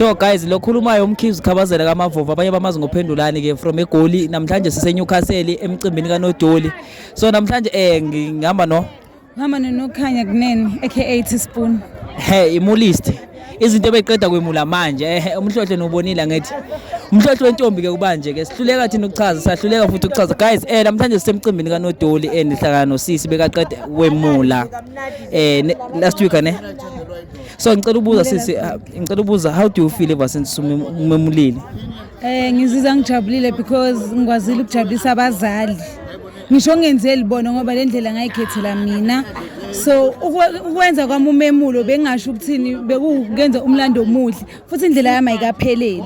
No guys lokhulumayo umkhizi ukhabazela kamavovo abanye bamazi ngophendulani ke from egoli namhlanje sise Newcastle emcimbini kanodoli so namhlanje eh ngihamba no ngihamba nokhanya kuneni aka teaspoon hey imulist izinto ebeqeda kwemula manje eh umhlohle nobonile ngithi umhlohle wentombi ke kubanje ke sihluleka thina ukuchaza sahluleka futhi ukuchaza guys eh namhlanje sisemcimbini kanodoli endihlangana eh, nosisi bekaqeda kwemula eh last week ne so ngicela ubuza sisi ah, ngicela ubuza how do you feel ever since umemulile eh ngizizwa ngijabulile because ngikwazile ukujabulisa abazali ngisho ngenzeli bona ngoba le ndlela ngayikhethela mina so ukwenza kwami umemulo bengasho ukuthini bekukenza umlando omuhle futhi indlela yami ayikapheleli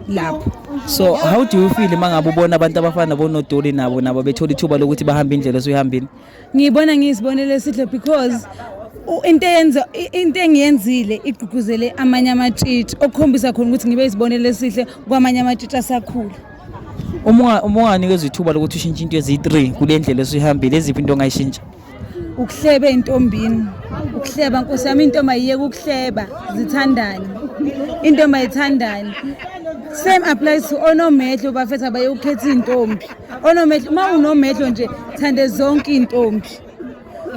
lapho so how do you feel uma ngabe ubona abantu abafana nabonodoli nabo nabo bethola ithuba lokuthi bahambe indlela esuyihambile ngiyibona ngiyisibonelo esihle because into eyenza into engiyenzile igqugquzele amanye amatshitshi okukhombisa khona ukuthi ngibe isibonelo esihle kwamanye amatshitshi asakhula uma unganikeza ithuba lokuthi ushintshe into ezi-3 kule ndlela esuyihambile eziphi into ongayishintsha ukuhleba entombini ukuhleba nkosi yami intombi ayiyeke ukuhleba zithandane intombi ayithandane same applies to onomehlo bafethu abayokukhetha iy'ntombi onomehlo uma unomehlo nje thande zonke iy'ntombi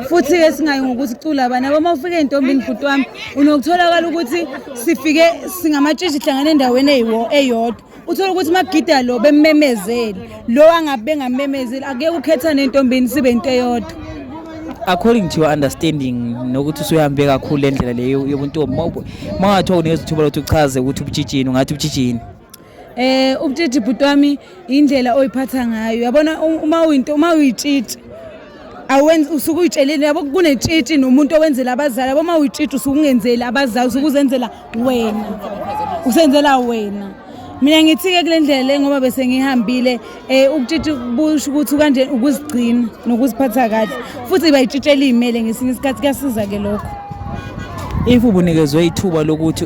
futhi-ke singayi ngokuthi cula abani abo uma ufike ey'ntombini bhuti wami unokutholakala ukuthi sifike singamatshitshi hlangana endaweni eyodwa uthole ukuthi magida lo bemmemezeli lo angabe bengamemezeli akuyeke ukhethane entombini sibe into eyodwa according to your understanding nokuthi usuhambe kakhulu le ndlela leyo yobuntombi uma ungathiwa unezithuba lokuthi uchaze ukuthi ubutshitshini ungathi ubutshitshini Eh ubutiti bhuti wami indlela oyiphatha ngayo. Yabona uma uyinto uma uyitshitshi awenzi usuke uyitshelile yabo kunetshitshi nomuntu owenzela abazali yabo uma uyitshitshi usuke ungenzeli abazali usuke uzenzela wena usenzela wena mina ngithi-ke kule ndlela le ngoba bese ngihambile um ukutshitshi busho ukuthi kanje ukuzigcina nokuziphatha kahle futhi bayitshitshela iy'mele ngesinye isikhathi kuyasiza-ke lokho if ubunikezwe ithuba lokuthi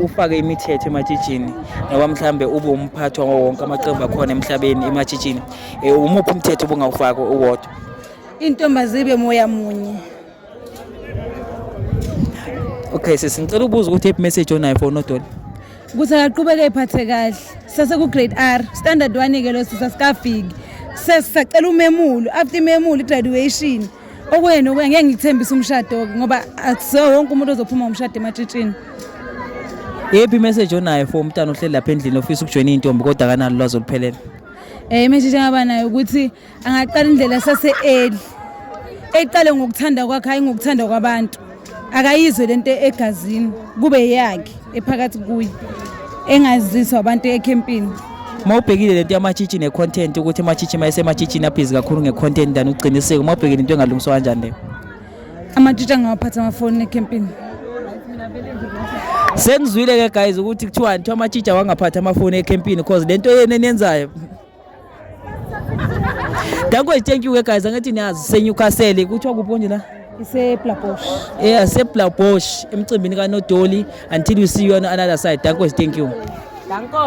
ufake imithetho ematshitshini ngoba mhlawumbe ube umphathi wawo wonke amaqembu akhona emhlabeni ematshitshini um eh, umuphi umthetho ubungawufaki uwodwa intombazibe moya munye okay sisi ngicela ubuza ukuthi ephi message onayo for unodoli ukuthi akaqhubeke ephathe kahle sasekugrade r standard one-ke lo sisa sikafiki sesisacela umemulo after imemulo i-graduation Okwenu okwenu ngeke ngikuthembise umshado ngoba akusiwo wonke umuntu ozophuma umshado ematshitshini. Yephi message onayo for umntana ohleli lapha endlini ofisa ukujoyina intombi kodwa akanalo lwazi oluphelele? Eh message engaba nayo ukuthi angaqala indlela sase early. Eqale ngokuthanda kwakhe hayi ngokuthanda kwabantu. akayizwe lento egazini kube yakhe ephakathi kuye engaziswa abantu ekhempini uma ubhekile lento yamachichi ne-content ukuthi amachichi uma esemachitshini abhizi kakhulu nge-content than uqiniseko uma ubhekile into engalungiswa kanjani leyo amachichi angawaphatha amafoni ekhempini sengizwile-ke guys ukuthi kuthiwani kuthiwa amachichi awangaphathi amafoni ekhempini because le nto yena eniyenzayo Danko thank you ke guys angathi niyazi seNewcastle kuthiwa kuphi konje la iseBlabosh yeah seBlabosh emcimbini kaNodoli until we see you on another side Danko thank you Danko